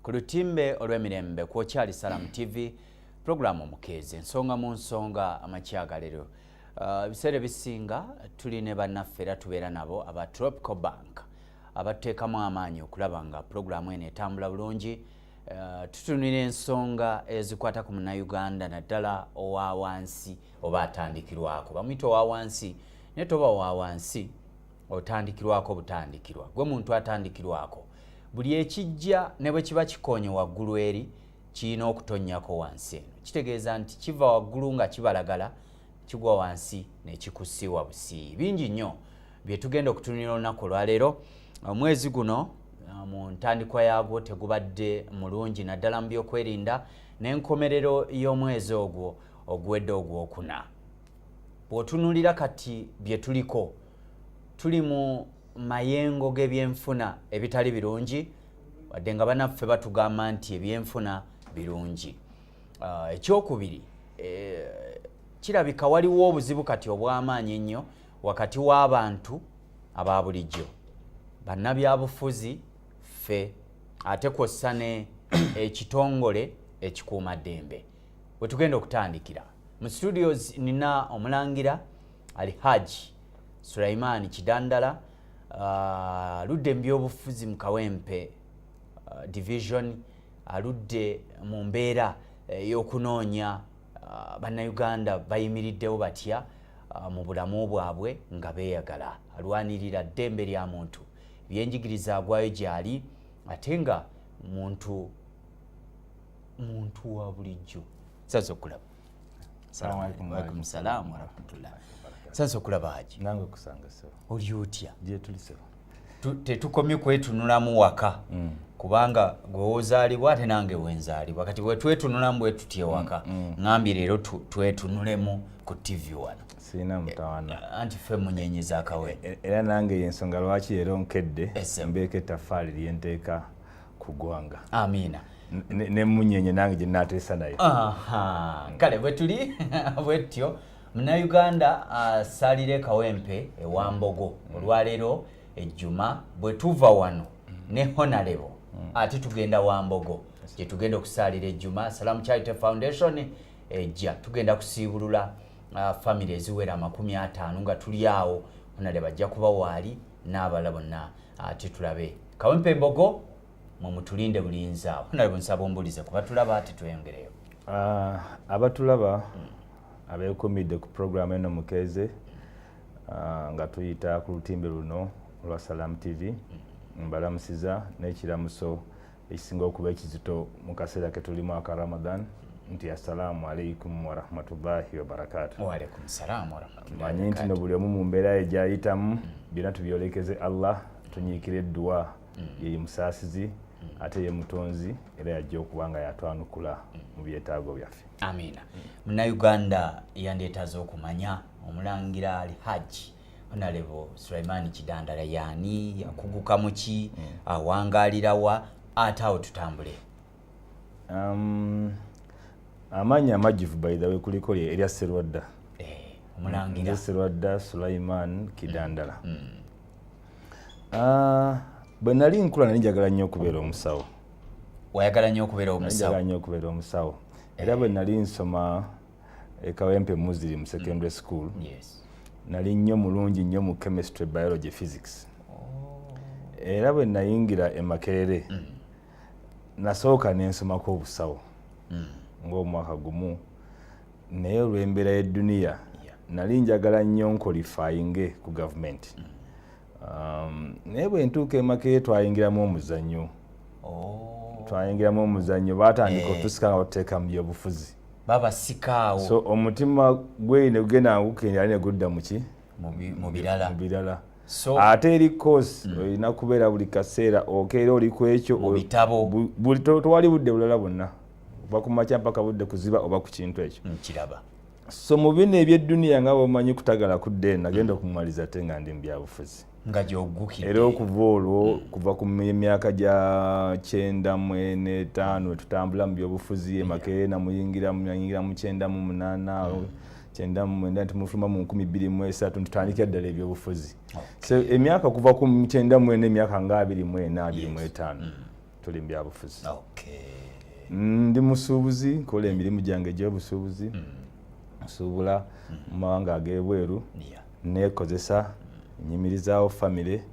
ku lutimbe olw'emirembe kwokyali salamu tv pulogulaamu omukeezi ensonga mu nsonga amakyagalero uh, ebiseera uh, ebisinga tuli ne bannaffe era tubeera nabo aba tropical bank abateekamu amaanyi okulaba nga pulogulaamu eno etambula bulungi uh, tutunira ensonga ezikwata ku munauganda naddala owa wansi oba atandikirwako bamuyita owa wansi naye toba owa wansi otandikirwako butandikirwa gwe muntu atandikirwako buli ekijja ne bwe kiba kikonye waggulu eri kirina okutonnyako wansi eno kitegeeza nti kiva waggulu nga kibalagala kigwa wansi ne kikusiiwa busii bingi nnyo bye tugenda okutunira olunaku olwaleero omwezi guno uh, mu ntandikwa yaagwo tegubadde mulungi naddala mu byokwerinda n'enkomerero y'omwezi ogwo oguwedde ogwokuna bw'otunuulira kati bye tuliko tuli mu mayengo g'ebyenfuna ebitali birungi wadde nga banaffe batugamba nti ebyenfuna birungi ah, ekyokubiri eh, kirabika waliwo obuzibu kati obw'amaanyi ennyo wakati w'abantu aba bulijjo bannabyabufuzi ffe ate kwossa ne ekitongole ekikuumaddembe wetugenda okutandikira mu studios nina omulangira ali haji sulaimaani kidandala uh, ludde mu byobufuzi mu kawempe uh, division aludde mu mbeera eh, y'okunoonya uh, bannayuganda bayimiriddewo batya uh, mu bulamu bwabwe nga beeyagala alwanirira ddembe lya muntu ebyenjigiriza agwayo gyali ate nga muntu muntu wa bulijjo saza okulaba alaikum salaamu warahmatullah saza okulaba haji nange kusanga sebo oli otya gyetuli sebo tetukomye kwetunulamu waka mm. kubanga gwewozaalibwa ate nange wenzaalibwa kati bwetwetunulamu bwetuty ewaka mm, mm. ŋambi leero twetunulemu ku tv wano sirina mutawana eh, eh, anti fe munyenye zakawene eh, era nange yensonga lwaki leero nkedde mbeeko ettafaali lyenteeka ku ggwanga amiina nemunyenye nange gye nateesa nayo kale bwetuli bwetyo munauganda asalire ah, kawempe ewambogo mm. olwaleero ejjuma bwe tuva wano mm. ne honalebo mm. ate tugenda wambogo gye tugenda okusaalira ejjuma salamu charity foundation ejja tugenda kusiibulula ah, famiry eziwera amakumi ataano nga tuli awo honalebo ajja kuba waali n'abalala bonna ate tulabe kawempe embogo mwe mutulinde bulinzi awo nalebo nsaba ombulize kuba tulaba ati tweyongereyo ah, abatulaba hmm. abekumidde ku puroguramu eno mukeeze ah, nga tuyita ku lutimbe luno olwa salamu tv hmm. mbalamusiza n'ekiramuso ekisinga okuba ekizito mu kaseera ke tulimu aka ramadan nti assalaamu alaikum warahmatullahi wabarakatumanyi nti no buli omu mu mbeera ye gyayitamu mm. byonna tubyolekeze allah tunyiikira edduwa mm. yeye musaasizi mm. ate ye mutonzi era yajja okuba nga yatwanukula mu byetaago byaffe amiina munauganda yandetaaza okumanya omulangira ali hajji Honorable Sulaiman Kidandala yani yakuguka muki mm. awangalira wa ate awo tutambule um, amaanyi amajjuvu by the way kuliko erya Serwadda eh, omulangira Serwadda Sulaiman Kidandala mm. mm. Uh, bwe nali nkula nali njagala nnyo okubeera omusawo wayagala nnyo okubeera omusawo njagala nnyo okubeera omusawo era bwe nali nsoma ekawempe muslim secondary mm. school yes. nali nnyo mulungi nnyo mu chemistry biology physics oh. era bwe nayingira emakerere mm. nasooka nensomako obusawo mm. ngaomwaka gumu naye olwembeera y'edduniya yeah. nali njagala nnyo nkolifayinge ku gavumenti mm. Um, naye bwe ntuuka emakeye twayingiramu omuzannyo oh. twayingiramu omuzannyo baatandika eh. otusika nga batuteeka mu byobufuzi babasikaawo so omutima gwe ne gugenda ngukenda ali ne gudda muki mu birala ate eri course hmm. olina kubeera buli kaseera okeera oli ku ekyo tewali budde bulala bwonna oba ku makya mpaka budde kuziba oba ku kintu ekyo so mu bino ebyedduniya nga bwemanyi kutagala kudda eno nagenda okumumaliza ate nga ndi mu byabufuzi nga gyogukidde era okuva olwo hmm. kuva ku myaka gya kyenda mwene etaano etutambula mu byobufuzi emakerere namuyingira nayingira mu kyenda mu munaana hmm. kyenda mu mwenda nti mufuluma mu nkumi bbiri mu esatu ntutandikira ddala ebyobufuzi so emyaka kuva ku kyenda mwene emyaka nga abiri mwena abiri mu etaano hmm. tuli mubyabufuzi ndi musuubuzi nkola emirimu gyange egyobusuubuzi mm. nsuubula mm. mu mawanga ag'ebweru neekozesa mm. nyimirizaawo famire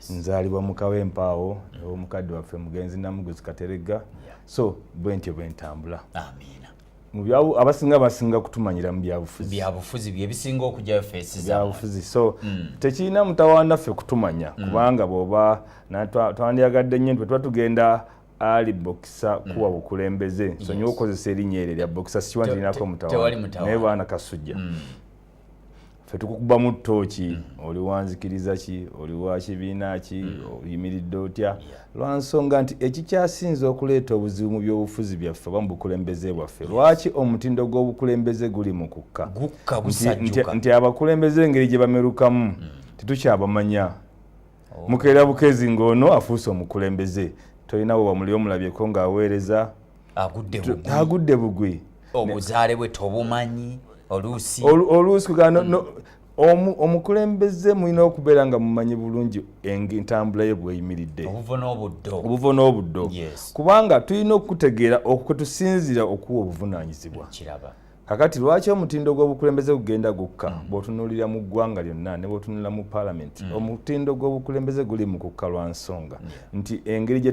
nzaalibwa mukawa empaawo ew'omukadde waffe mugenzi namuguzi kateregga so bwe ntyo bwe ntambula amiina abasinga basinga kutumanyira mu byabufuzi byabufuzi byebisinga okujayo fesibyabufuzi so mm. tekirina mutawaana ffe kutumanya mm. kubanga bwoba twandyagadde nnyo nti tuba tugenda ali bokisa mm. kuwa bukulembeze nsonyiwa yes. okukozesa erinnya eryo lya bokisa sikiwa ntirinako mutawaana naye baana kasujja mm. fe tukukubamu tooki mm. oli wanzikiriza ki oli wa kibiina ki mm. oyimiridde otya lwa nsonga nti ekikyasinze okuleeta obuzibu mu byobufuzi byaffe oba mu bukulembeze bwaffe lwaki omutindo gw'obukulembeze guli mu kukka nti abakulembeze engeri gye bamerukamu mm. tetukyabamanya oh. mukeera bukezi ng'ono afuuse omukulembeze tolina we wamuli omulabyeko ng'aweereza agudde bugwi obuzaale bwe tobumanyi oluusi oluusi kugana mm. omukulembeze mulina okubeera nga mumanyi bulungi entambula ye bweyimiridde obuvo n'obuddo kubanga tulina okutegeera okwetusinziira okuwa obuvunanyizibwa kakati lwaki omutindo gw'obukulembeze gugenda gukka mm. bw'otunuulira mu ggwanga lyonna ne bw'otunuulira mu paalamenti mm. omutindo gw'obukulembeze guli mu kukka lwa nsonga mm. nti engeri gye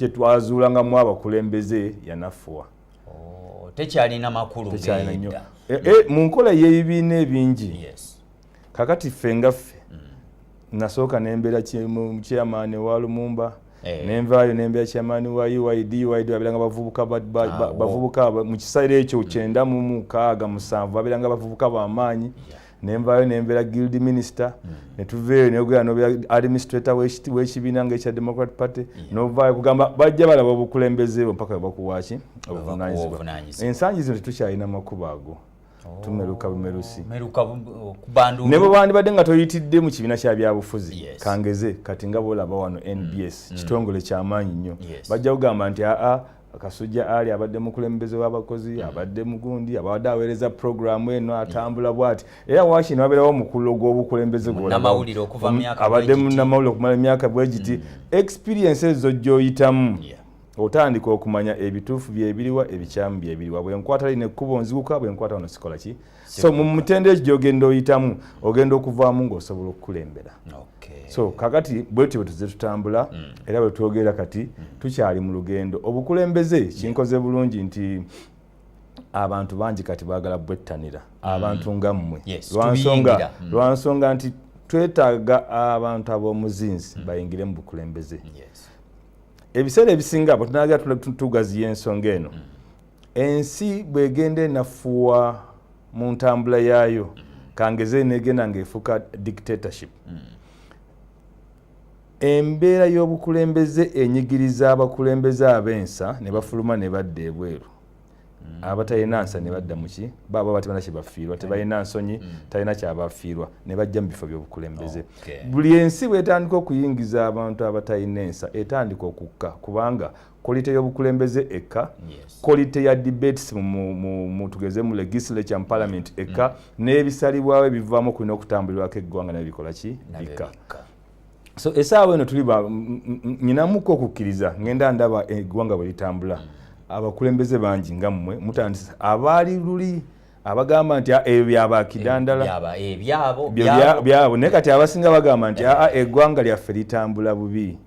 twazuulangamu abakulembeze yanafuwa oh, tekyalina makulu tekyalina nnyo eh, eh, mu nkola y'ebibiina ebingi yes. kakati ffe nga ffe mm. nasooka nembeera chairman wa lumumba eh. nenvaayo nembeera chairman wa uid uid babeeranga bavubuka ah, bavubuka mu kiseera ekyo mm. kyenda mu mukaaga musanvu babeeranga bavubuka bamaanyi nenvaayo nembeera guild minister mm. netuveeyo neyogera nobeera administrator wekibiina nga ekya democrat party novaayo kugamba bajja balaba obukulembeze bwo mpaka webakuwaki obuvunanyizibwa ensangi zino tetukyalina makubo ago tumeruka bumerusi oh, ne bwe wandibadde nga toyitidde mu kibiina kya byabufuzi kangeze kati nga bwolaba wano mm, nbs mm. kitongole kyamaanyi nnyo bajja kugamba nti aa kasujja ali abadde mukulembeze w'abakozi mm. abadde mugundi abadde aweereza puroguramu eno atambula bwati era wakino wabeerawo omukululo gw'obukulembeze gwabadde munamawulire okumala emyaka bwegiti experience ezo gyoyitamu otandika okumanya ebituufu byebiriwa ebikyamu byebiriwa bwenkwata lino ekkubo nziguka bwenkwata ono sikola ki so mu mutendo ekyo gyogenda oyitamu ogenda okuvaamu ngaosobola okukulembera so kakati bwetyo bwetuze tutambula mm. era bwetwogera kati mm. tukyali mu lugendo obukulembeze kinkoze bulungi nti abantu bangi kati bagala bwettanira mm. abantu nga mmwe lwansonga nti twetaaga abantu ab'omuzinzi bayingire mu bukulembeze ebiseera ebisinga bwe tunaagera tugaziya ensonga eno mm. ensi bwegenda enafuwa mu ntambula yaayo mm. kangeze negenda ngaefuuka dictatorship mm. embeera y'obukulembeze enyigiriza abakulembeze ab'ensa ne bafuluma ne badda ebweru Mm. abatalina nsa ne badda muki baaba batibana kyebafiirwa mm. tebalina nsonyi mm. talina kyabafiirwa ne bajja mu bifo byobukulembeze buli ensi bwetandika okuyingiza abantu abatalina ensa etandika okukka kubanga kolite y'obukulembeze ekka kolite ya debates tugeze mu legislature mu parliament ekka n'ebisalibwawo ebivaamu okulina okutambulirwako eggwanga nabyo bikola ki bikka so esaawa eno tuli nyinamuko okukkiriza ngenda ndaba eggwanga bwe litambula abakulembeze bangi nga mmwe mutandisa abaali luli abagamba nti ah, ebyo eh, byabakidandala eh, byabo naye kati abasinga bagamba nti aa ah, ah, eggwanga lyaffe litambula bubi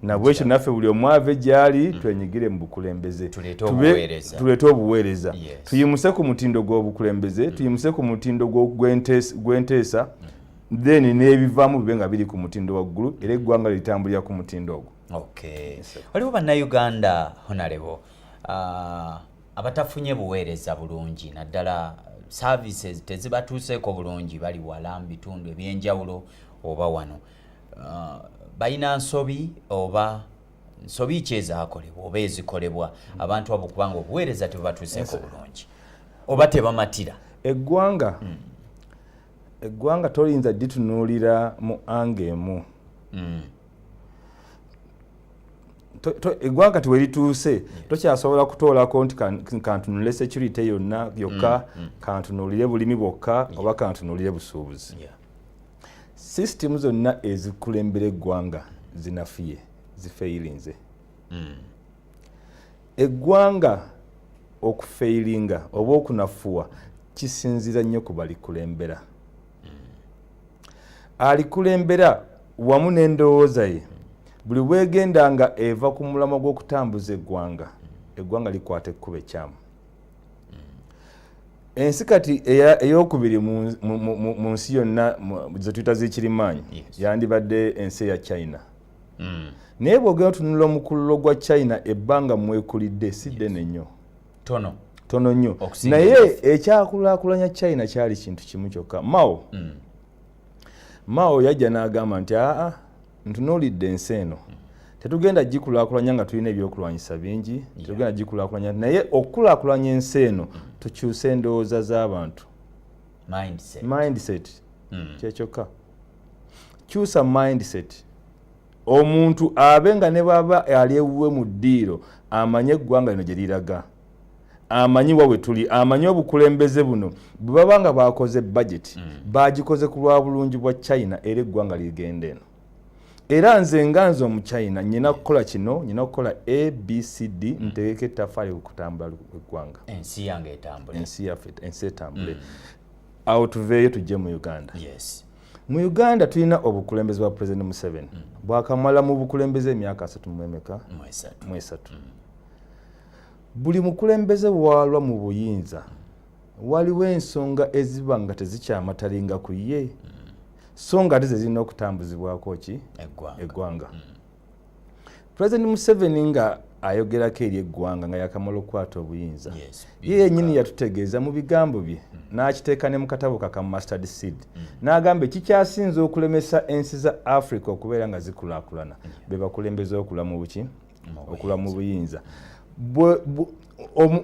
nabwekyo naffe buli omu ave gyali mm. twenyigire mu bukulembeze tuleete obuweereza tuyimuse ku mutindo gw'obukulembeze mm. tuyimuse ku mutindo gw'enteesa mm. then n'ebivaamu bibe nga biri ku mutindo waggulu era eggwanga litambulira ku mutindo ogwo okay waliwo bannayuganda honalebo uh, ah, abatafunye buweereza bulungi naddala services tezibatuuseeko bulungi bali wala mu bitundu ebyenjawulo oba wano uh, balina nsobi oba nsobi ki ezakolebwa oba ezikolebwa abantu abo kubanga obuweereza tebubatuuseeko bulungi oba tebamatira eggwanga mm. eggwanga toyinza ditunuulira mu anga emu mm. eggwanga kati werituuse tokyasobola kutoolako nti kantunulire security yonna yokka mm, mm. kantunulire bulimi bwokka oba kantunulire busuubuzi system zonna ezikulembera eggwanga zinafiye zifeyirinze eggwanga okufeilinga oba okunafuwa kisinzira nnyo ku balikulembera alikulembera wamu n'endowooza ye buli bwegenda nga eva ku mulamwa gw'okutambuza eggwanga eggwanga likwata ekkuba ekyamu ensi kati eyokubiri mu nsi yonna zetuyita z'ekirimaanyi yandibadde ensi eya china mm. naye bwogera otunula omukululo gwa china ebbanga mwekulidde si ddene nnyo tono tono nnyo naye ekyakulakulanya china kyali kintu kimu kyokka mao mm. mao yajja n'agamba nti aa ntunuulidde ensi eno mm. tetugenda gikulakulanya nga tulina ebyokulwanyisa bingi yeah. tetugenda gikulakulanya naye okukulakulanya ensi eno mm. tukyuse endowooza z'abantu mindset, mindset. Mm. kyekyokka kyusa mindset omuntu abe nga ne baba ali ewuwe mu ddiiro amanyi eggwanga lino gye liraga amanyi wa we tuli amanyi obukulembeze buno bwe baba nga bakoze bajeti mm. bagikoze ku lwa bulungi bwa china era eggwanga ligenda eno era nze nga nze omuchina nyina kukola kino nyina okukola abcd mm. ntegeka ettafaali okutambula eggwanga ensi yange etambule ensi yaffe ensi etambule mm. awo tuveeyo tujje mu uganda yes. mu uganda tulina obukulembeze bwa president museveni mm. bwakamala mu bukulembeze emyaka asatu mwemeka mwesatu mm. buli mukulembeze waalwa mu buyinza mm. waliwo ensonga eziba nga tezikyamatalinga ku ye mm. so nga ate zezirina okutambuzibwako ki eggwanga mm. president museveni nga ayogerako eri eggwanga nga yakamala okukwata obuyinza ye yenyini yatutegeeza mu bigambo bye mm. n'akiteeka ne mu katabo kaka mustard seed mm. n'agamba ekikyasinze okulemesa ensi za africa okubeera nga zikulaakulana mm. be bakulembeza okula mu buki okula mu buyinza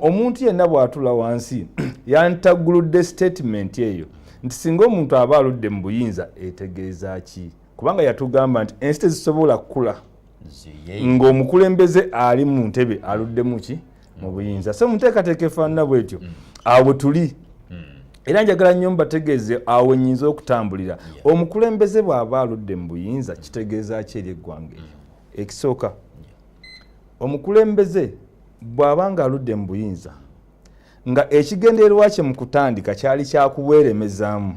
omuntu yenna bw'atula wansi yantagguludde sitatimenti eyo nti singa omuntu aba aludde mu buyinza etegeeza ki kubanga yatugamba nti ensi tezisobola kukula ng'omukulembeze ali mu ntebe aluddemu ki mu buyinza so muteekateeka efaanana bwetyo mm. awo tuli mm. era njagala nnyo mbategeeze awo nyinza okutambulira omukulembeze bw'aba aludde mu buyinza kitegeeza ki eri eggwanga eryo mm. ekisooka omukulembeze bw'aba nga aludde mu buyinza nga ekigendererwa kye mu kutandika kyali kyakuweeremezaamu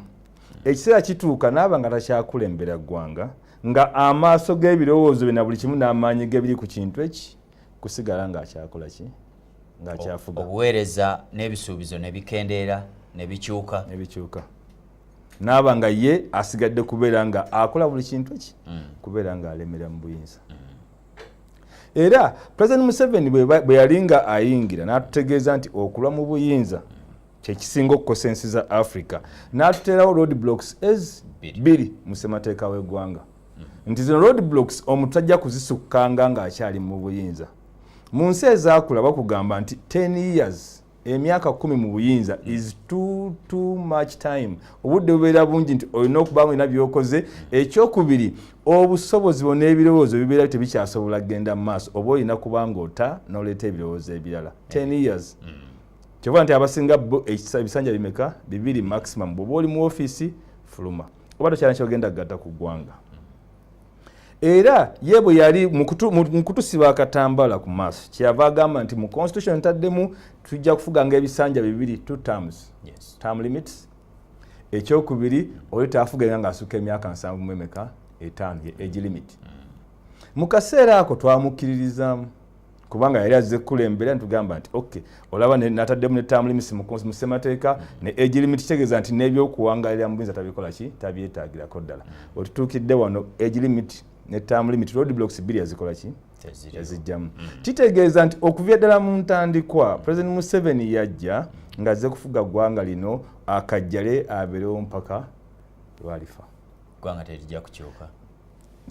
ekiseera kituuka naaba nga takyakulembera ggwanga nga amaaso g'ebirowoozo bye na buli kimu n'amaanyi gebiri ku kintu eki kusigala ng'akyakola ki ng'akyafuga obuweereza n'ebisuubizo ne bikendeera ne bikyuka ne bikyuka naaba nga ye asigadde kubeera nga akola buli kintu eki mm. kubeera ng'alemera mu buyinza mm. era pulezidenti museveni bwe yali nga ayingira n'atutegeeza nti okulwa mu buyinza mm. kyekisinga okukosa ensi za africa n'atuteerawo road blocks ez bbiri mu ssemateeka w'eggwanga mm-hmm. nti zino road blocks omuntu tajja kuzisukkanga ng'akyali mu buyinza mu nsi ezaakula bakugamba nti 10 years emyaka kumi mu buyinza is too too much time obudde bubeera bungi nti olina okuba mulina byokoze ekyokubiri obusobozi bona ebirowoozo bibeera tebikyasobola kugenda mu maaso oba olina kuba nga ota noleeta ebirowoozo ebirala 10 years mm. kyova nti abasinga bo ebisanja bimeka bibiri maximum bwoba oli mu ofiisi fuluma oba tokyala kyogenda kugata ku ggwanga era ye bwe yali mu kutusiba akatambala ku maaso kyeyava agamba nti mu constitution ntaddemu tujja kufuganga ebisanja bibiri two terms yes. term limits ekyokubiri oli taafugenga ngaasuka emyaka nsanvu mu emeka etaano ye age limit mm. mu kaseera ako twamukkiririzaamu kubanga yali azze kukulembera nitugamba nti ok olaba nataddemu ne term limits mu ssemateeka ne age limit kitegeeza nti n'ebyokuwangalira mu buyinza tabikola ki tabyetaagirako ddala otutuukidde wano age limit ne term limit road blocks bbiri yazikola ki yazijjamu mm. kitegeeza nti okuvya ddala mu ntandikwa president museveni yajja ng'azze kufuga ggwanga lino akajjale abeerewo mpaka lwalifa ggwanga terijja kukyuka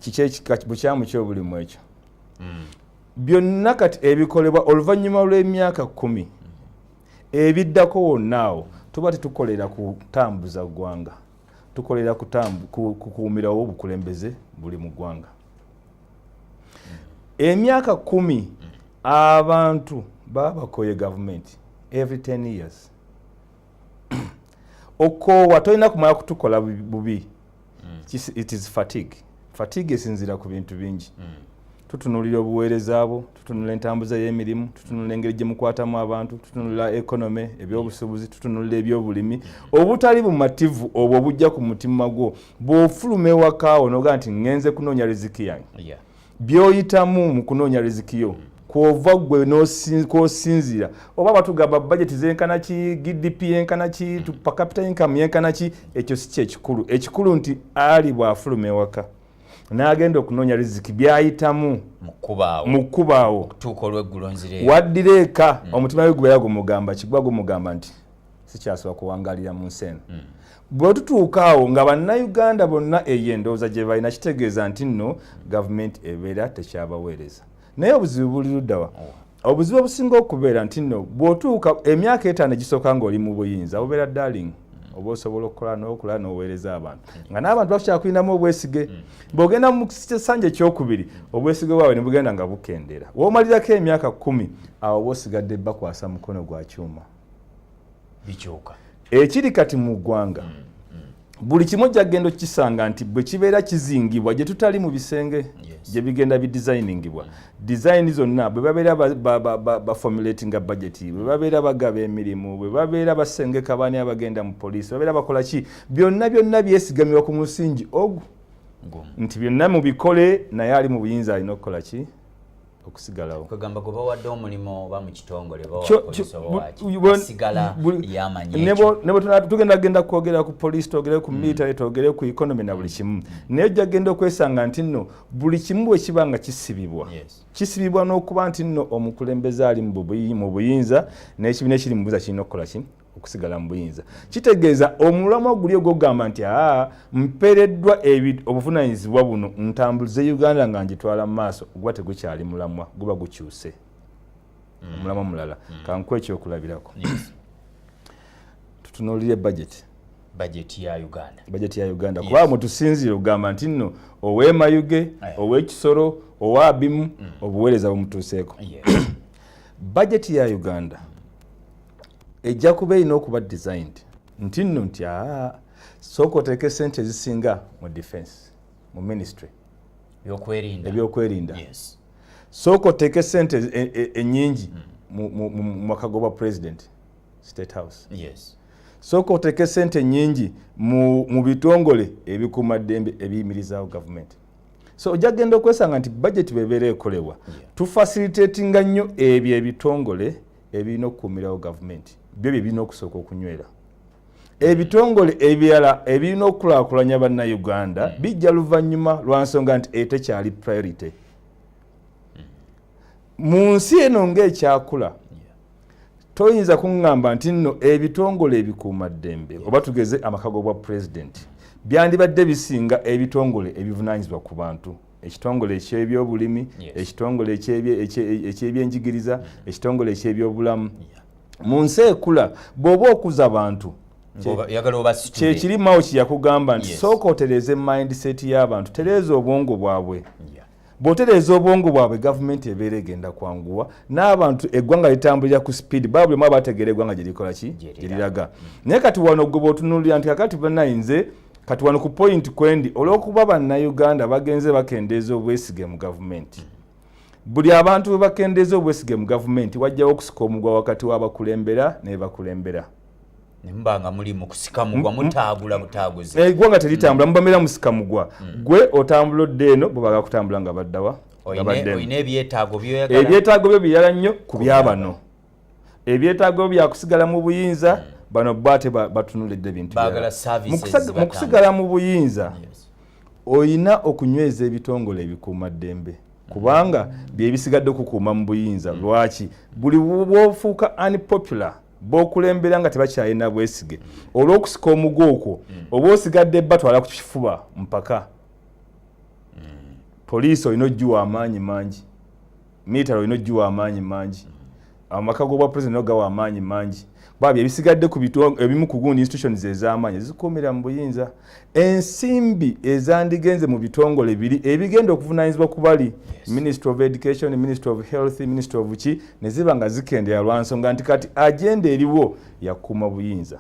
kiki ekika bukyamu kyobulimu ekyo mm. byonna kati ebikolebwa oluvannyuma lw'emyaka kumi ebiddako wonna awo tuba tetukolera kutambuza ggwanga tukolera kukuumirawo obukulembeze buli mu ggwanga emyaka kumi abantu babakoye gavumenti every 10 years okoowa tolina kumala kutukola bubi mm. it is fatigue fatigue esinziira ku bintu bingi mm. tutunulira obuweereza bwo tutunula entambuza y'emirimu tutunula engeri gye mukwatamu abantu tutunula ekonome ebyobusuubuzi tutunulira ebyobulimi obutali bumativu obwo obujja ku mutima gwo bw'ofuluma ewakaawo noga nti ngenze kunoonya riziki yange yeah. byoyitamu mu kunoonya riziki yo kwova gwe kwosinzira oba batugamba bajeti zenkana ki gdp yenkana ki per capita income yenkana ki ekyo si kyekikulu ekikulu nti ali bwafuluma ewaka n'agenda okunoonya riziki byayitamu mu kkubaawo waddira eka mm. omutima we gubeera gumugamba kigwa gumugamba nti sikyasobola kuwangalira mu nsi eno hmm. bwe tutuuka awo nga bannayuganda bonna eyo endowooza gye balina kitegeeza nti nno gavumenti ebeera tekyabaweereza naye obuzibu buli luddawa oh. obuzibu obusinga okubeera nti nno bw'otuuka emyaka etaano egisooka ng'oli mu buyinza bubeera darling hmm. oba osobola okukola n'okula n'oweereza abantu hmm. nga n'abantu bakyakulinamu obwesige bw'ogenda mu kisanja ekyokubiri obwesige bwabwe ne bugenda nga bukendeera w'omalirako emyaka kkumi awo oba osigadde bakwasa mukono gwa kyuma bikyuka ekiri kati mu ggwanga mm, mm. buli kimu ojja kugenda okukisanga nti bwe kibeera kizingibwa gye tutali mu bisenge gye bigenda bidizayiningibwa dizayini zonna bwe babeera bafomulati nga bajeti bwe babeera bagaba emirimu bwe babeera basengeka baani abagenda mu poliisi babeera bakola ki byonna byonna byesigamibwa ku musingi ogu nti byonna mubikole naye ali mu buyinza alina okukola ki okusigalawo kwegamba gwe bawadde omulimu oba mu kitongole tugenda genda kwogera ku poliisi twogere ku mm. military twogere ku economy na buli kimu naye ojja genda okwesanga nti nno buli kimu bwe kiba nga kisibibwa kisibibwa n'okuba nti nno omukulembeze ali mu buyinza n'ekibiina ekiri mu buza kirina okukola ki okusigala mu buyinza kitegeeza omulamwa guli ogwogamba nti aa mpereddwa obuvunanyizibwa buno ntambulize uganda nga ngitwala mu maaso guba tegukyali mulamwa guba gukyuse mm. omulamwa mulala mm. kankuwa ekyokulabirako tutunuulire bajeti bajeti ya uganda bajeti ya uganda kuba mwe tusinziire okugamba nti nno owemayuge eh. owekisoro owabimu mm. obuweereza bumutuuseeko bajeti ya uganda ejja kuba erina okuba designed nti nno nti aa sooka oteeka esente ezisinga mu defense mu ministry ebyokwerinda sooka oteeka esente enyingi e, e, mu mwaka goba president state house yes. sooka oteeke sente nyingi mu bitongole ebikuuma ddembe ebiyimirizaawo gavumenti so ojja kugenda okwesanga nti bajeti bebeera ekolebwa tufacilitatinga nnyo ebyo ebitongole ebirina okukuumirawo gavumenti byo bye birina okusooka okunywera ebitongole ebirala ebirina okukulakulanya bannayuganda hmm. bijja luvannyuma lwa nsonga nti etekyali priority hmm. mu nsi eno ngaekyakula toyinza kuŋŋamba nti nno ebitongole ebikuumaddembe oba tugeze amaka g'obwa pulezidenti byandibadde bisinga ebitongole ebivunaanyizibwa ku bantu ekitongole ekyebyobulimi ekitongole ekyebyenjigiriza ekitongole ekyebyobulamu mu nsi ekula bw'oba okuza bantu kyekirimawo kyeyakugamba nti sooka otereeze mindset y'abantu tereeza obwongo bwabwe bwotereeza obwongo bwabwe gavumenti ebeera egenda kwanguwa n'abantu eggwanga litambulira ku sipiidi baba buli mu abategeera eggwanga gyerikola ki gyeriraga mm. naye kati wano gwe bwotunulira nti kakati banayinze kati wano ku point kwendi olwokuba bannayuganda bagenze bakendeeza obwesige mu gavumenti buli abantu bwe bakendeeza obwesige mu gavumenti wajjawo okusika omugwa wakati w'abakulembera nebakulembera nembanga muli mukusika mugwa mutagula butaguzi eh, eggwanga teritambula mm. mubameera musika mugwa mm. gwe otambula odde eno bo baga kutambula nga baddawa ebyetaago byo biyala nnyo ku byabano ebyetaago byakusigala mu buyinza hmm. bano bo ate batunulidde bintu mu kusigala mu buyinza olina okunyweza ebitongole ebikuuma ddembe hmm. kubanga byebisigadde okukuuma mu buyinza hmm. lwaki buli bwofuuka unpopular bokulembera nga tebakyalina bwesige olwokusika omugu okwo mm. oba osigadde batwala ku kifuba mpaka mm. poliisi olina ogiwa amaanyi mangi military olina ogiwa amaanyi mangi amaka gobwa president no gawa amaanyi mangi babi ebisigadde ku bitu ebimu ku gundi institutions ez'amaanyi zikomera mu buyinza ensimbi ezandigenze mu bitongole biri ebigenda okuvunaanyizibwa ku bali yes. ministry of education ministry of health ministry of ki ne ziba nga zikendera lwa nsonga nti kati agenda eriwo yakuuma buyinza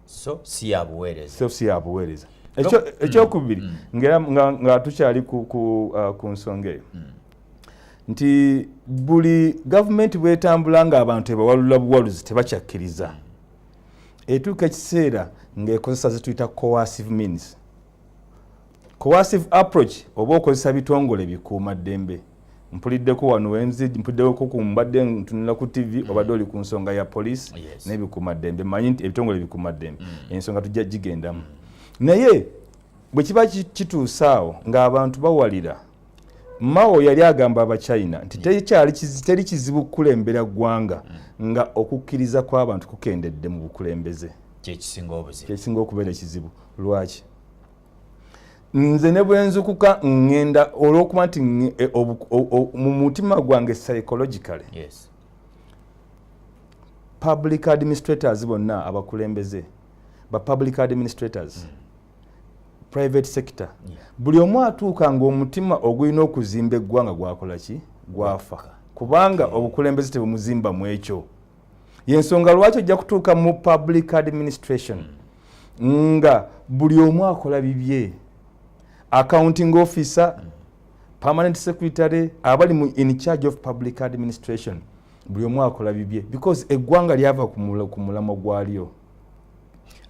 so si yabuweereza so si yabuweereza ekyokubiri mm. mm. nga tukyali ku, ku, uh, ku nsonga eyo mm. nti buli gavumenti bwetambula nga abantu tebawalula buwaluzi tebakyakkiriza etuuka ekiseera ngaekozesa zituyita coercive means coercive approach oba okozesa bitongole bikuuma ddembe mpuliddeko wano wenzi mpuliddeko ku mbadde ntunula ku tv mm. obadde oli ku nsonga ya poliisi yes. nebikuuma ddembe manyi nti ebitongole bikuuma ddembe mm. ensonga tujja gigendamu mm. naye bwe kiba kituusaawo ng'abantu bawalira Mao yali agamba Abachina nti teri kizibu kukulembera ggwanga nga okukkiriza kw'abantu kukendedde mu bukulembeze kyekisinga okubeera ekizibu lwaki nze ne bwenzukuka ŋŋenda olw'okuba nti e, mu mutima gwange psychologically public administrators bonna abakulembeze ba public administrators mm. private sector yeah. buli omu atuuka ngaomutima ogulina okuzimba eggwanga gwakola ki gwafa okay. kubanga okay. obukulembeze tebumuzimba mu ekyo yensonga lwaki ojja kutuuka mu public administration mm. nga buli omu akola bibye accounting officer mm. permanent secretary abali mu in charge of public administration buli omu akola bibye because eggwanga lyava ku mulamwa gwalyo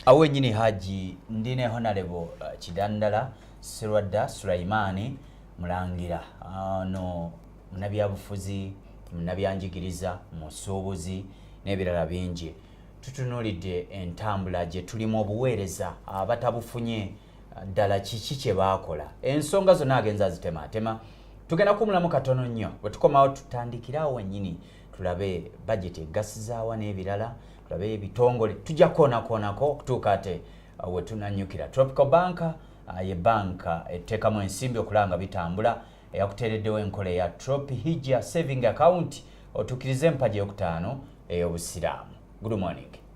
awo wenyini haji ndi ne honalebo uh, kidandala sirwadda sulaimaani mulangira ah, no munabyabufuzi munabyanjigiriza musuubuzi n'ebirala bingi tutunulidde entambula gye tulimu obuweereza abatabufunye ah, ddala kiki kye baakola ensonga zonna agenza azitemaatema tugenda kumulamu katono nnyo bwe tukomawo tutandikire awo wennyini tulabe bajeti egasizaawa n'ebirala tulabe ebitongole tujja kukoonakoonako okutuuka ate uh, wetunanyukira tropical banka uh, ye banka etteekamu ensimbi okulanga bitambula eyakuteereddewo enkola eya tropi hijja saving account otuukirize empagi eyokutaano ey'obusiraamu good morning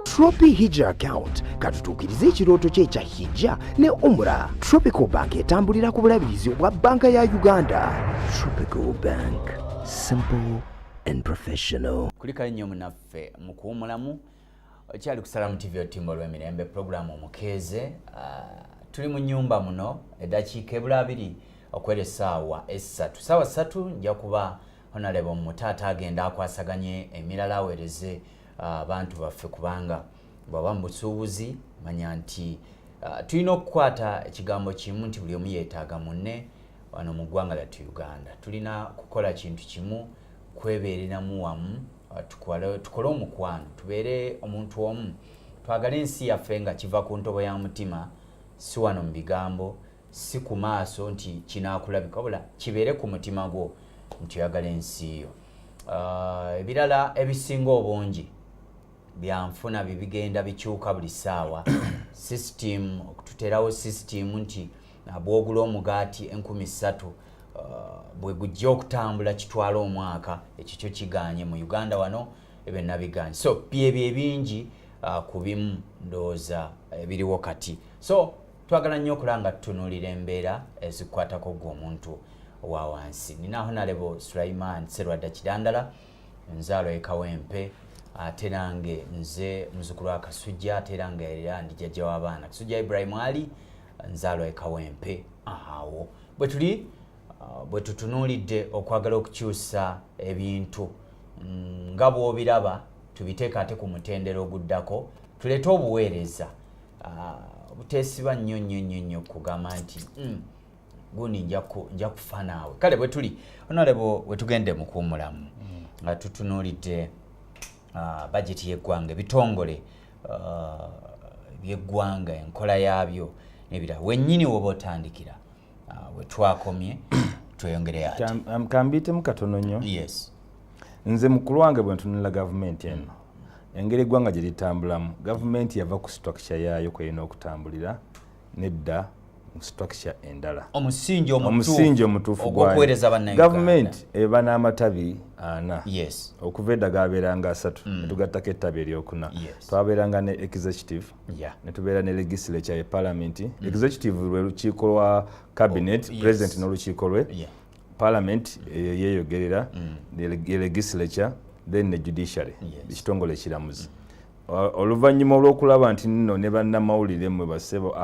Tropi Hijja account katutuukirize ekirooto kye ekya Hijja ne Umra. Tropical Bank etambulira ku bulabirizi obwa banka ya Uganda. Tropical Bank, simple and professional. Kulikayo nnyo munaffe mu kuwumulamu okyali ku Salamu TV otimba olw'emirembe pulogulaamu omukeeze. Ah, tuli mu nyumba muno eddakiika ebula abiri okwera essaawa essatu. Ssaawa ssatu nja kuba honalebo mutaata agenda akwasaganye emirala awereze ah, abantu baffe kubanga bwaba mubusuubuzi manya nti ah, tulina okukwata ekigambo kimu nti buli omu yetaaga munne wano mu ggwanga lyattu uganda tulina kukola kintu kimu kwebeereramu wamu ah, tukole omukwano tubeere omuntu omu twagale ensi yaffe nga kiva ku ntobo ya mutima si wano mu bigambo si ku maaso nti kinaakulabika wabula kibeere ku mutima gwo nti oyagala ensi yo ah, ebirala ebisinga obungi byanfuna bibigenda bikyuka buli ssaawa system okututerawo system nti bwogula omugaati enkumi ssatu ah, bwe gujja okutambula kitwala omwaka ekyo kyo kiganye mu uganda wano ebyo nabiganye so byebyo ebingi ah, ku bimu ndowooza ebiriwo kati so twagala nnyo okula nga tutunuulira embeera ezikwatako gwe omuntu owa wansi nina honalebo sulaiman serwadda kidandala nzaalo ekawempe ate nange nze muzukulu wa kasujja ate era nga era ndi jjajja w'abaana kasujja ibrahim ali nzaalo ekawempe awo bwe tuli uh, bwe tutunuulidde okwagala okukyusa ebintu mm, nga bw'obiraba tubiteekaate ku mutendera oguddako tuleete obuweereza ah, obutesiba nnyo nnyo nnyo nnyo kugamba nti hmm, gundi nja kufa naawe kale bwe tuli onalebo we tugenda mukuwumulamu hmm. nga tutunuulidde ah, bajeti y'eggwanga ebitongole ah, by'eggwanga enkola yaabyo nebirala wennyini woba otandikira ah, we twakomye tweyongere ate um, kambiitemu katono nnyo yes nze mukulu wange bwe ntunula gavumenti eno mm. engeri eggwanga gye litambulamu gavumenti yava ku structure yaayo kweyina okutambulira nedda structure endala omusingi omusingi omutuufu gwakuweereza bannayuganda gavumenti eba n'amatabi ana yes okuva edda gaabeeranga asatu mm. netugattako ettabi eryokuna yes. twabeeranga ne executive ya netubeera ne legislature ye palamenti mm. executive lwe lukiiko lwa cabinet oh, president n'olukiiko lwe palamenti eyo eh, yeyogerera mm. ye legislature then ne judiciary ekitongole ekiramuzi mm. oluvannyuma olw'okulaba nti nno ne bannamawulire mwe basebo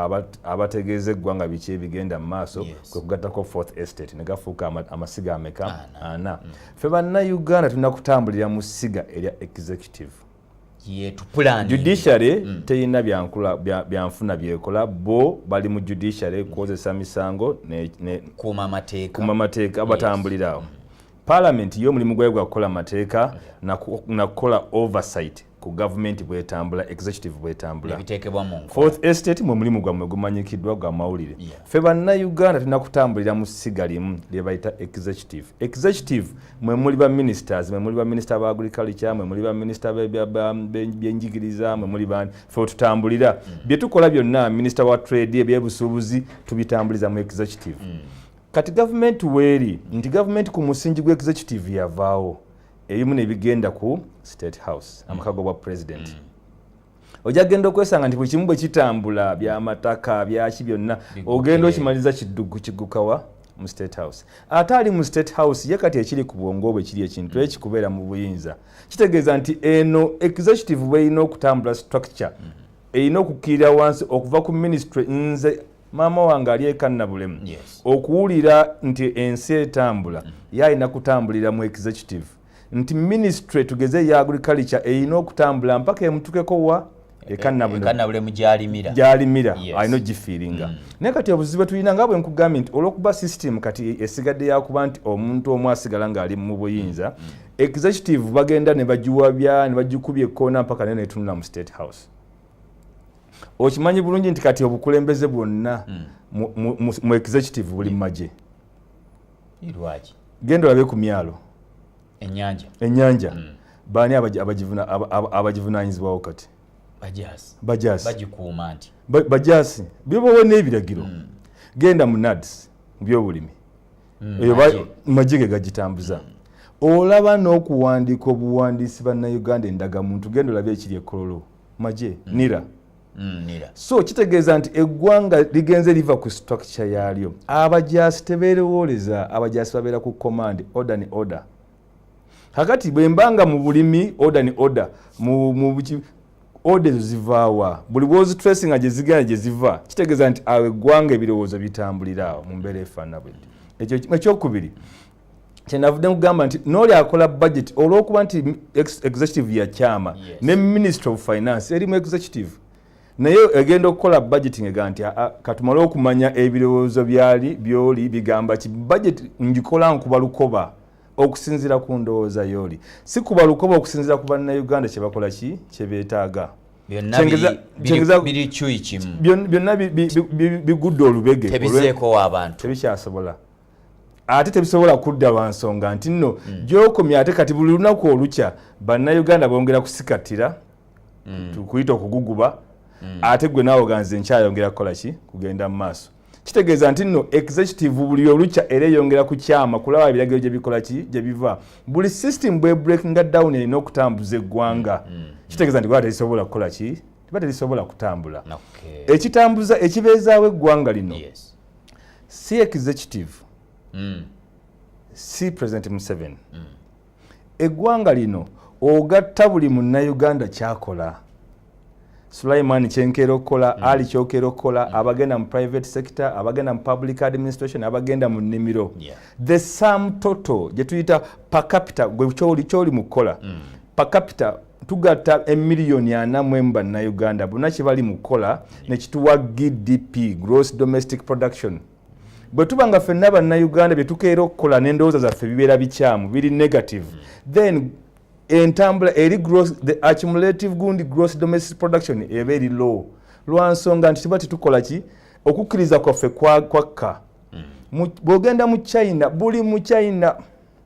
abategeeza eggwanga biki ebigenda mu maaso kwe kugattako fourth estate ne gafuuka amasiga ameka ana ffe bannayuganda tulina kutambulira mu siga erya executive judiciary mm. teyina byankula byanfuna byekola bo bali mu judiciary kukozesa misango kuma mateeka abatambulirawo mm. parliament yo omulimu gwayo gwa kukola mateeka nakukola oversight ku gavumenti bwetambula executive bwetambula fourth estate mwe mulimu gwammwe gumanyikiddwa gwa mawulire ffe bannayuganda tulina kutambulira mu ssiga limu lyebayita executive executive mwe muli ba ministers mwe muli ba minister ba agriculture mwe muli ba minister byenjigiriza mwe muli bani fe otutambulira mm. bye tukola byonna minister wa trade ebyebusuubuzi tubitambuliza mu executive mm. kati gavumenti weeri nti gavumenti ku musingi gwa executive yavaawo ebimu nebigenda ku state house mm. amaka gobwa president mm. ojja kugenda okwesanga nti buli kimu bwe kitambula byamataka byaki byonna ogenda okimaliza kiddugu kigukawa mu state house ate ali mu state house ye kati ekiri ku bwongo bwe kiri ekintu mm. ekikubeera mu buyinza kitegeeza nti eno executive bwerina okutambula structure mm. erina okukkirira wansi okuva ku ministry nze maama wange ali ekannabulemu okuwulira nti ensi etambula mm. ye alina kutambulira mu executive nti ministry tugeze eya agriculture erina okutambula mpaka emutukeko wa ekanabule mugyalimira gyalimira alina ogifiiringa mm. naye kati obuzibu tulina nga bwe nkugambye nti olwokuba system kati esigadde yakuba nti omuntu omu asigala ng'ali mu buyinza mm. executive bagenda ne bagiwabya ne bagikubya ekkoona mpaka naye netunula mu state house okimanyi bulungi nti kati obukulembeze bwonna mm. mu executive buli mu magye lwaki genda olabe ku myalo enyanja enyanja mm. baani abagivunanyizibwawo kati bajasibagikuuma nti bajasi bibawa n'ebiragiro mm. genda mu nads mu byobulimi mm, eyo magye ge gagitambuza mm. olaba n'okuwandiika obuwandiisi bannayuganda endagamuntu genda olaba ekiri ekololo magye mm. nira Mm, so kitegeeza nti eggwanga ligenze liva ku structure yaalyo abajaasi tebeerowooleza abajaasi babeera ku command order ne order kakati bwe mba nga mu bulimi order ne order order ezo zivaawa buli bwozitressi nga gyezigenda gye ziva kitegeeza nti awo eggwanga ebirowoozo bitambulira awo mu mbeera efaanana bwe ekyo ekyokubiri kyenavudde nkugamba nti nooli akola budget olwokuba nti executive yakyama yes. ne ministry of finance eri mu executive naye egenda okukola budget ngega nti ah, ah, katumale okumanya ebirowoozo byali byoli bigamba ki budget ngikola nkuba lukoba okusinzira ku ndowooza yooli si kuba lukoba okusinzira ku bannauganda kyebakola ki kyebeetaaga byonna bigudde olubege tebikyasobola ate tebisobola kudda lwa nsonga nti nno mm. gyokomya ate kati buli lunaku olukya bannayuganda bongera kusikatira mm. tukuyita okuguguba mm. ate gwe naawe oganze nkyayongera kukola ki kugenda mu maaso kitegeeza nti nno executive buli olukya era eyongera kukyama kulaba ebiragiro gye bikola ki gye biva buli system bwe breakinga down erina okutambuza eggwanga mm, mm, mm. kitegeeza nti gwaa terisobola kukola ki tiba terisobola kutambula ekitambuza ekibeezaawo eggwanga lino si executive mm. si president museven mm. eggwanga lino ogatta buli munnauganda kyakola sulaiman kyenkeera okukola mm. ali kyokeera okukola mm. abagenda mu private sector abagenda mu public administration abagenda mu nnimiro yeah. the sam toto gyetuyita pacapita gwe kyoli mu kukola mm. pacapita tugatta emiliyoni ana mu emu bannayuganda bonna kye bali mu kukola ne kituwa gdp gross domestic production bwe tuba nga ffenna bannayuganda bye tukeera okukola n'endowooza zaffe bibeera bikyamu biri negative then entambula eri gross the accumulative gundi gross domestic production eba eri low lwa nsonga nti tuba tetukola ki okukkiriza kwaffe kwakka mm. bw'ogenda mu china buli mu china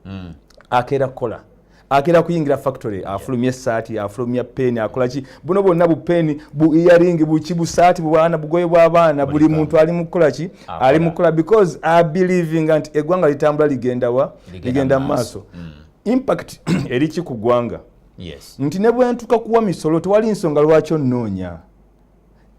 mm. akeera kukola agera kuyingira factory afulumya esaati afulumya peeni akolaki buno bwonna bu peeni bu earing buki busaati bwana bugoye bw'abaana buli muntu ali mukukolaki ali mukukola because abelievinga nti eggwanga litambula ligenda wa ligenda mu maaso mm. impact eriki ku ggwanga nti ne bwentuka kuwa misolo tewali nsonga lwaki onnoonya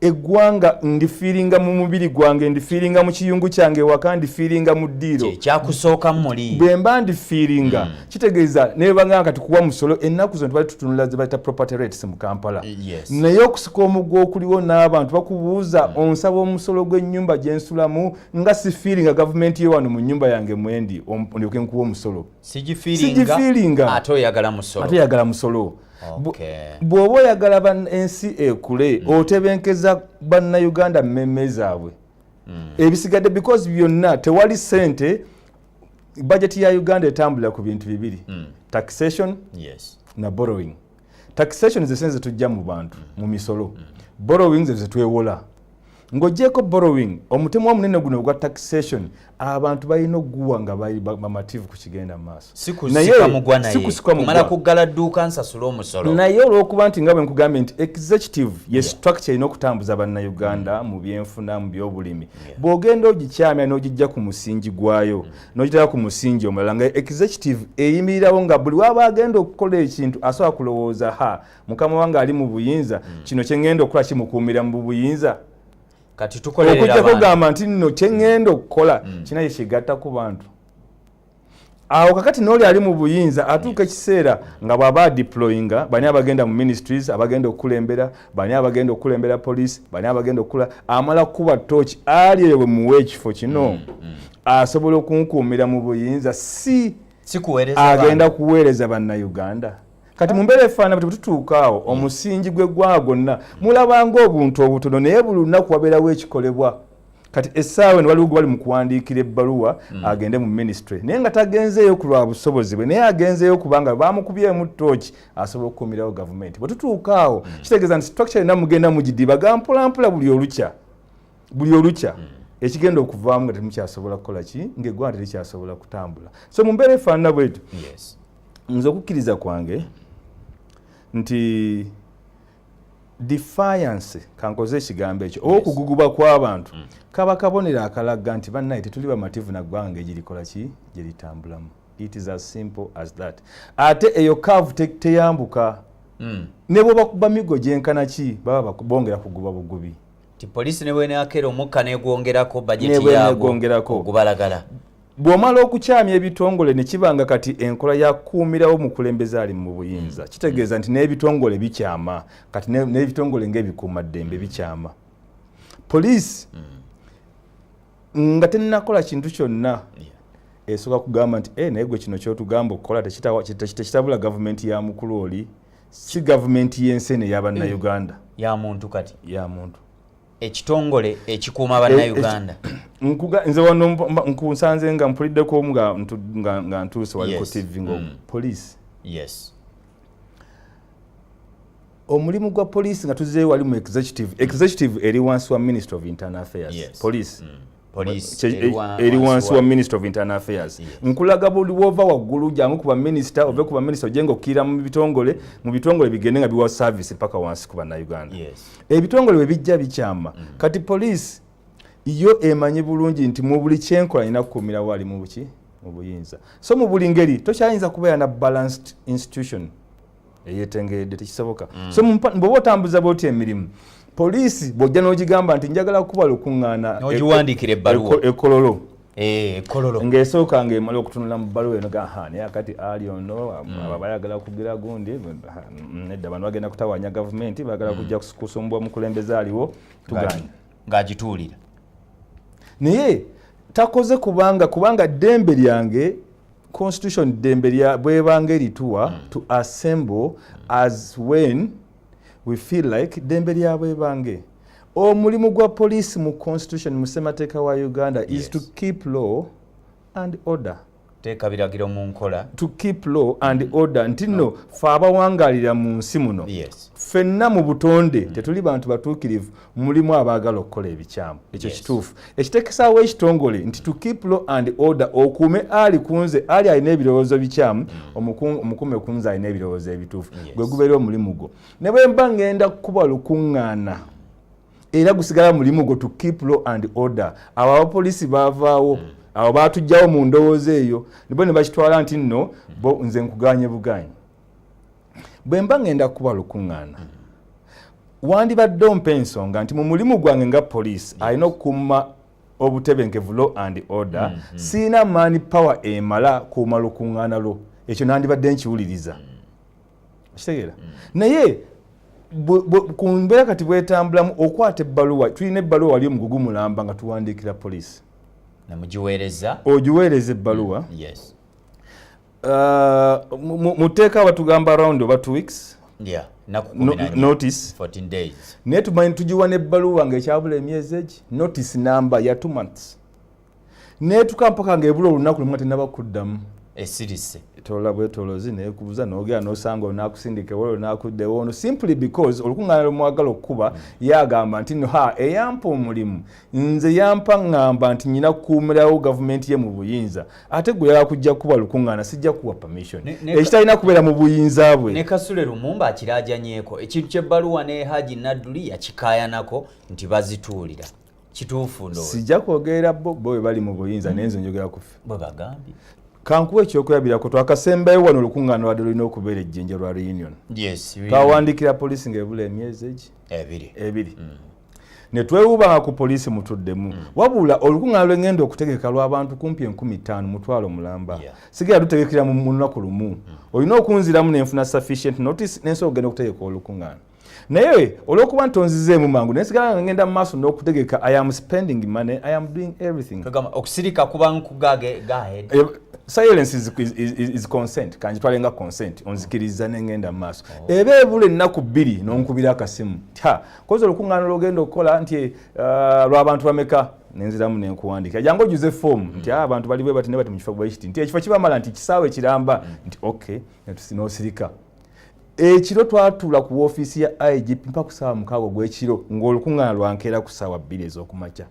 eggwanga ndifiiringa mu mubiri gwange ndifiiringa mu kiyungu kyange waka ndifiiringa mu ddiiro kyakusooka muli bwe mba ndifiiringa mm. kitegeeza nebanga kati kuwa musolo ennaku zino tubali tutunula ze bayita property rates mu kampala yes. naye okusika omugwa okuliwo n'abantu bakubuuza mm. onsaba omusolo gw'ennyumba gye nsulamu nga sifiiringa gavumenti yo wano mu nnyumba yange mwendi ndyoke nkuwa omusolo sigifiiringa ate oyagala musolo bw'oba oyagala ensi ekule mm. otebenkeza bannayuganda mmemme zaabwe mm. ebisigadde because byonna tewali sente bajeti ya uganda etambulira ku bintu bibiri mm. taxation yes. na borrowing taxation zesente zetujja mu bantu mu misolo borrowing zezetwewola Ng'ogyeko borrowing, omutemwa omunene guno ogwa taxation abantu balina okuguwa nga bamativu ku kigenda mu maaso. Sikusikamala kuggala dduuka nsasule omusolo. Naye olw'okuba nti nga bwe nkugambye nti executive ye structure erina okutambuza bannayuganda mm. mu byenfuna mu byobulimi. Bw'ogenda ogikyamya n'ogijja ku musingi gwayo mm. n'ogitera ku musingi omulala nga executive eyimirirawo nga buli waba agenda okukola ekintu asobola kulowooza ha mukama wange ali mu buyinza mm. kino kyengenda okukola kimukuumira mu buyinza kati tukoleokujja kugamba nti nno kyengenda okukola mm. kinaye kigatta ku bantu awo kakati nooli ali mu buyinza atuuka ekiseera nga bwaba adeployinga bani abagenda mu ministries abagenda okukulembera bani abagenda okukulembera police bani abagenda okukula amala kukuba tooki ali eyo bwemuwa ekifo kino mm, mm. asobola okunkuumira mu buyinza si agenda kuweereza bannauganda kati mu mbeera efaanana bwe tutuuka awo hmm. omusingi gw'eggwanga gwonna mulabanga obuntu obutono naye buli lunaku wabeerawo ekikolebwa kati essaawa eno waliwo gwe bali mu kuwandiikira ebbaluwa hmm. agende mu minisitule naye nga tagenzeeyo ku lwa busobozi bwe naye agenzeeyo kubanga baamukubyemu tooki asobola okukuumirawo gavumenti bwe tutuuka awo hmm. kitegeeza nti structure yonna mugenda mugidiba ga mpolampola buli olukya buli olukya ekigenda okuvaamu nga temukyasobola kukola ki ngaeggwanga terikyasobola kutambula so mu mbeera efaanana bwetyo nze okukkiriza kwange nti defiance kankoze ekigambo ekyo oba okuguguba kw'abantu mm. kaba kabonero akalaga nti bannaye tetuli bamativu na ggwanga nga egirikola ki gye litambulamu it is as simple as that ate eyo kaavu teyambuka mm. ne bwe bakuba migo gyenkana ki baba bongera kuguba bugubi ti poliisi ne bweneakeera omukka negwongerako bajeti yaabwo okubalagala Bw'omala okukyamya ebitongole ne kiba nga kati enkola ya kuumirawo mukulembeze ali mu buyinza mm. kitegeeza nti n'ebitongole bikyama kati n'ebitongole ng'ebikuumaddembe mm. bikyama poliisi mm. nga tennakola kintu kyonna esooka kugamba nti e naye gwe kino kyotugamba okukola tekitabula gavumenti ya mukulu oli si gavumenti y'ensi eno eya bannayuganda ya muntu kati ya muntu ekitongole ekikuuma bannayuganda eh, eh, nze wano nkunsanze nga mpuliddeko nga ntuuse wali ku tv nga mm. poliisi yes omulimu gwa poliisi nga tuzeeyo wali mu executive executive eri wansi wa ministry of internal affairs yes. poliisi mm. eri wansi wa minister of internal affairs nkulaga buli wova waggulu jangu ku baminisita ove ku baminisita oje nga okkirira mu bitongole mu bitongole bigende nga biwa service mpaka wansi ku bannayuganda ebitongole bwe bijja bikyama mm. kati poliisi yo emanyi bulungi nti mu buli kyenkola nina kukuumira waali mu buki mu buyinza so mu buli ngeri tokyayinza kubeera na balanced institution eyetengeredde tekisoboka mm. so bwoba otambuza bwoti emirimu poliisi bwojja n'ogigamba nti njagala kukuba lukuŋŋaana ogiwandiikira ebbaluwa e-, ekololo Eh, kololo ngesooka nga emala okutunula mu bbaluwa eno gaha naye akati ali ono mm. aba bayagala kugira gundi mm, nedda bano bagenda kutawanya gavumenti bagala mm. kujja kusumbwa omukulembeze aliwo tuganye ng'agituulira naye takoze kubanga kubanga ddembe lyange constitution ddembe lya bwebanga erituwa mm. to assemble as when we feel like ddembe lya bwebange omulimu gwa poliisi mu constitution mu ssemateeka wa uganda yes. is to keep law and order teeka biragiro mu nkola to keep law and mm. order nti nno fe abawangalira mu nsi muno ffenna mu butonde mm. tetuli bantu batuukirivu mulimu abaagala okukola ebikyamu ekyo kituufu ekitekesaawo ekitongole nti to keep law and order okuume ali kunze ali alina ebirowoozo bikyamu mm. omukuume kunze alina ebirowoozo ebituufu gwe gubeera omulimu gwo ne bwe mba ngenda kukuba lukuŋŋaana era gusigala mulimu gwo to keep law and order abo abapolisi bavaawo hmm. abo batujjawo mu ndowooza eyo nibo ne bakitwala nti nno bo nze nkuganye buganye bwe mba ngenda kukuba lukuŋŋaana hmm. wandibadde ompa ensonga nti mu mulimu gwange nga poliisi alina okukuuma obutebenkevu law and order hmm, siina maani power emala kuuma lukuŋŋaana lwo ekyo nandibadde nkiwuliriza kitegeera mm. naye ku mbeera kati bwetambulamu okwata ebbaluwa tulina ebbaluwa wali omugugu mulamba nga tuwandiikira poliisi namugiweereza ogiweereza ebbaluwa mm, yes uh, mu tteeka batugamba around oba two weeks yeah notice naye tumanyi tugiwa n'ebbaluwa nga ekyabula emyezi egi notice namba ya two months netuka mpaka ngaebula olunaku lumu atenaba kuddamu esirise etola bwetolozi nekubuza nogera nosanga onakusindika ewala onakuddewo ono simply because olukuŋŋaana lwemwagala okukuba yagamba nti no ha eyampa omulimu nze yampa ŋŋamba nti nyina kukuumirawo gavumenti ye mu buyinza ate gwe yala kujja kukuba lukuŋŋaana sijja kuwa permission ekitalina kubeera mu buyinza bwe ne kasule lumumba akirajanyeko ekintu kyebbaluwa ne haji nadduli yakikayanako nti bazituulira kituufu ndo sijja kwogerera bo bo bwe bali mu buyinza naye nze njogera kufe bwe bagambye kankuwa ekyokulabirako twakasembayo wano olukuŋŋaana lwadde lulina okubeera ejjinja lwa reunion twawandiikira poliisi ng'ebula emyezi egi ebiri mm. ne twewubanga ku poliisi mutuddemu mm. wabula olukuŋŋaana lwe ŋŋenda okutegeka lw'abantu kumpi enkumi ttaano mutwalo mulamba sigera lutegekera mu lunaku lumu mm. olina okunziramu ne nfuna sufficient notice nensobola okugenda okutegeka olukuŋŋaana naye olwokuba nti onzizeemu mangu naye sigala nga ngenda mu maaso n'okutegeka i am spending money i am doing everything okusirika kuba nkugage eh, silence is, is, is, is consent kanjitwale nga consent onzikiriza nengenda mu maaso oh. eba ebula ennaku bbiri nonkubira akasimu ta koza olukuŋŋaana lwogenda okukola nti eh, lwabantu bameka nenziramu nenkuwandika jangu ojuze fomu nti mm. ah, abantu bali bwe bati ne bati mu kifo bwekiti nti ekifo kibamala nti kisaawe kiramba mm. nti okay nosirika ekiro twatuula ku woofiisi ya igp mpa ku saawa mukaaga ogw'ekiro ng'olukuŋŋaana lwankeera ku saawa bbiri ez'okumakya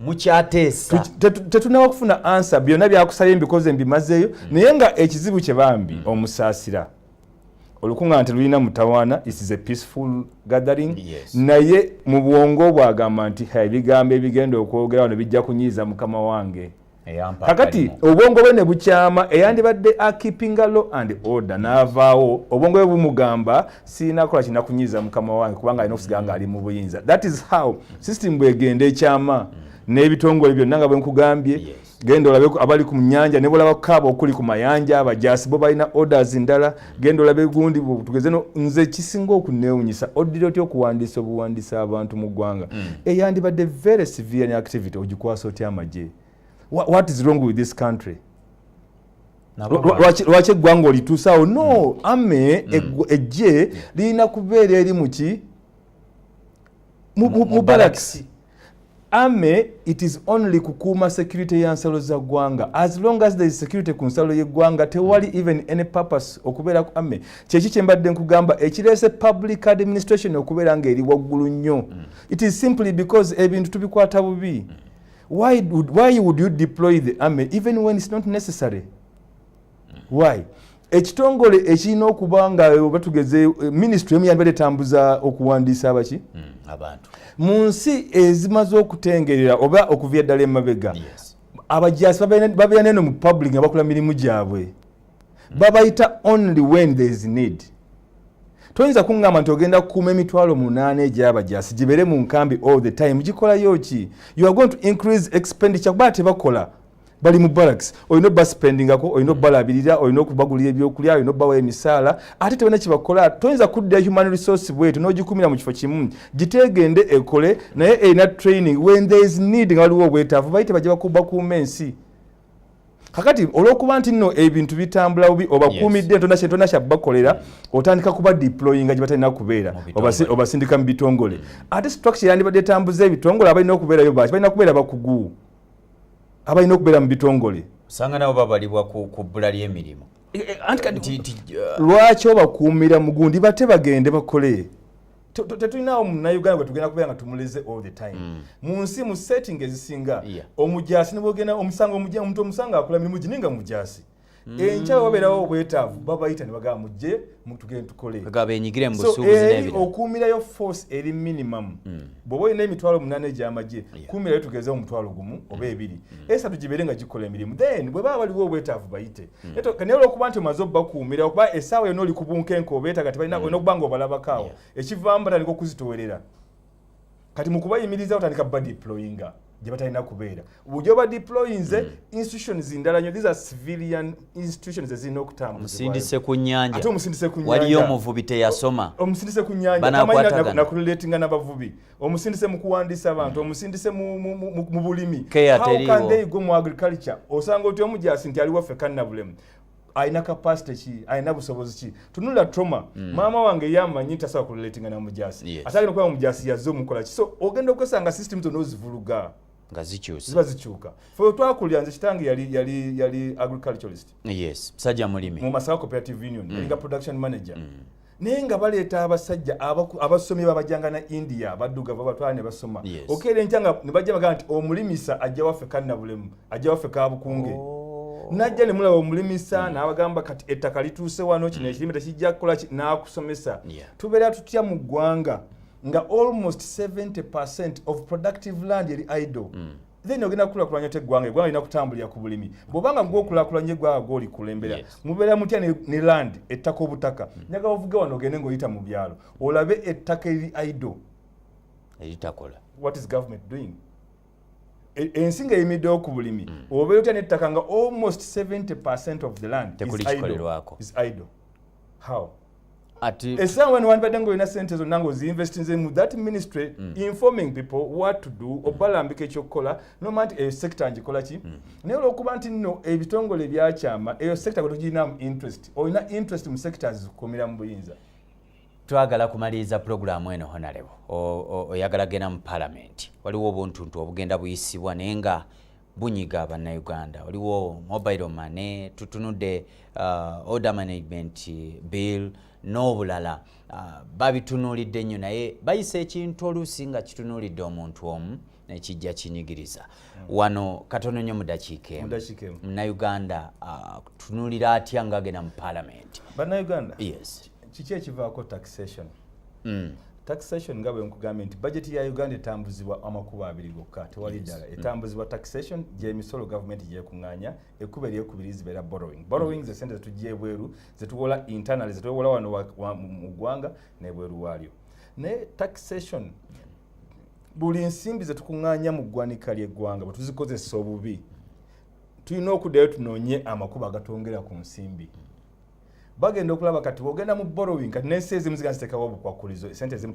mukyateesa tetunaba kufuna ansa byonna byakusabye mbikoze mbimazeeyo mm. naye nga ekizibu kye bambi mm. omusaasira olukuŋŋaana telulina mutawaana it is a peaceful gathering yes. naye mu bwongo bwagamba nti ebigambo ebigenda okwogera wano bijja kunyiiza mukama wange kakati obwongo bwe ne bukyama eyandibadde akipinga law and order n'avaawo obwongo bwe bumugamba sirina kola kirina kunyiiza mukama wange kubanga alina okusigala nga ali mu buyinza that is how system bwegenda ekyama n'ebitongole byonna nga bwe nkugambye genda olabe abali ku nyanja ne bulaba kukaaba okuli ku mayanja abajasi bo balina orders ndala genda olabe gundi tugeze no nze kisinga okunewunyisa oddira otya okuwandiisa obuwandiisa abantu mu ggwanga mm. eyandibadde very severe activity ogikwasa otya amagye what is wrong with this country lwaki eggwanga olituusaawo no mm. ame mm. ejje lirina kubeera eri muki mu balakisi ame it is only kukuuma security ya nsalo za ggwanga as long as there is security ku nsalo y'eggwanga tewali mm. even any purpose okubeera ku ame kyeki kye mbadde nkugamba ekireese public administration okubeera ng'eri waggulu nnyo mm. it is simply because ebintu tubikwata bubi mm. why, would, why would you deploy the army even when it's not necessary why ekitongole ekirina okuba nga oba tugeze eh, minisitule emu yandibadde etambuza okuwandiisa abaki hmm, abantu mu nsi ezimaze okutengerera oba okuva eddala emabega abajasi babeera neno mu public nga bakola mirimu gyabwe hmm. babayita only when there is need toyinza kuŋŋamba nti ogenda kukuuma emitwalo munaana egyabajasi gibeere mu nkambi all the time gikolayo ki you are going to increase expenditure kuba tebakola bali mu barracks olina obasipendingako olina obalabirira olina okubagulira ebyokulya olina obawa emisaala ate tebana kyebakola toyinza kudda human resource bwetu nogikumira mu kifo kimu giteegende ekole naye erina training when there is need nga waliwo obwetaavu baite bajja bakuuma ensi kakati olwokuba nti nno ebintu bitambula bubi obakuumidde entonda kyentona kyabakolera otandika kuba deployinga gye batalina kubeera obasindika mu bitongole mm. ate structure yandibadde etambuza ebitongole abalina okubeerayo baki balina kubeera bakugu abalina okubeera mu bitongole osanga nabo babalibwa ku bbula ly'emirimu e, e, uh, lwaki obakuumira mugundi bate bagende bakole tetulinawo munauganda gwetugenda kubeera nga tumuleze all the time mm. mu nsi mu setting ezisinga omujasi nibwogenda omusango omuntu omusango akola mirimu gini nga mujasi mm. enkya wabeerawo obwetaavu babayita ne bagamba mujje mutugende tukole benyigire mu busuubuzi eh, n'ebirala okuumirayo force eri minimum mm. bw'oba olina emitwalo munaana egy'amagye yeah. kuumirayo tugeze omutwalo gumu mm. oba ebiri mm. esatu gibeere nga gikola emirimu then bwe baba baliwo obwetaavu bayite mm. naye olwokuba nti omaze obakuumira okuba essaawa yonna oli ku bunkenke obeetaga tebalina mm. olina okuba nga obalabako awo yeah. ekivaamu batandika okuzitowerera kati mukubayimiriza otandika ba deployinga gye batalina kubeera bujja oba deployinze mm. institutions ndala nyo these are civilian institutions ezirina okutambuzaomusindise ku nyanja ate omusindise ku nyanja waliyo omuvubi teyasoma omusindise ku nyanja nakululatinga n'abavubi omusindise mu kuwandiisa abantu mm. omusindise mu bulimi how can they go mu agriculture osanga oti omujaasi nti ali waffe kannabulemu alina kapasite ki alina busobozi ki tunula trauma mm. maama wange yamanyi nti asobola kurelatinga na mujaasi yes. ate alina okuba mujaasi yazze omukola ki so ogenda okwesanga system zonna ozivuluga nga zikyusa ziba zikyuka fe twakulira nze kitange yali yali yali agriculturalist yes sajja mulimi mu masawa cooperative union mm. yalinga production manager mm. naye nga baleeta abasajja abasomi babajanga na india badduga babatwala ne basoma okeera enkya nga ne bajja bagamba nti omulimisa ajja waffe kannabulemu ajja waffe kabukunge oh. najja ne mulaba omulimisa mm. n'abagamba kati ettaka lituuse wano kino mm. ekirime tekijja kukola n'akusomesa tubeera tutya mu ggwanga nga almost 70 percent of productive land eri idle mm. then ogenda kukulakulanya otya eggwanga eggwanga lina kutambulira ku bulimi bwobanga gwokulakulanya eggwanga gwoli kulembera mubeera mutya ne land ettaka obutaka hmm. nyaga ovuge wano ogende ngaoyita mu byalo olabe ettaka eri ido eritakola what is government doing e, ensi nga eyimiddewo ku bulimi hmm. obeera otya nettaka nga almost 70 percent of the land is idle. is idle how essaawa wano wandibadde nga olina sente zonna nga oziinvestinze mu that ministry mm. informing people what to do mm. obalambika ekyokukola noma nti eyo sekita ngikola ki mm. naye olwokuba nti nno ebitongole ebyakyama eyo sekita gwe togirinamu interest olina interest mu sekita zikukumira mu buyinza twagala kumaliriza pulogulaamu eno honalebo oyagala genda mu palamenti waliwo obuntuntu obugenda buyisibwa naye nga bunyiga bannayuganda waliwo mobile money tutunudde uh, order management bill n'obulala uh, babitunuulidde nnyo naye bayisa ekintu oluusi nga kitunuulidde omuntu omu nekijja kinyigiriza hmm. wano katono nnyo mudakiika emu munnayuganda uh, tunulira atya ngaagenda mu palamenti bannayuganda yes kiki ekivaako taxation mm. taxation nga bwenkugambye nti bajeti ya uganda etambuzibwa amakubo abiri gokka tewali ddala mm. etambuzibwa taxation gyemisolo gavumenti gyekunganya ekkuba eryokubiri zibeera borrowing mm. borrowing ze sente zetujja ebweru zetuwola internal zetuwola wano mu ggwanga nebweru waalyo naye taxation buli nsimbi zetukunganya mu ggwanika lyeggwanga bwetuzikozesa obubi tulina okuddayo tunoonye amakubo agatwongera ku nsimbi mm. bagenda okulaba kati bwogenda mu borrowing kati nensi ezimu zigana zitekawo obukwakulizo esente ezimu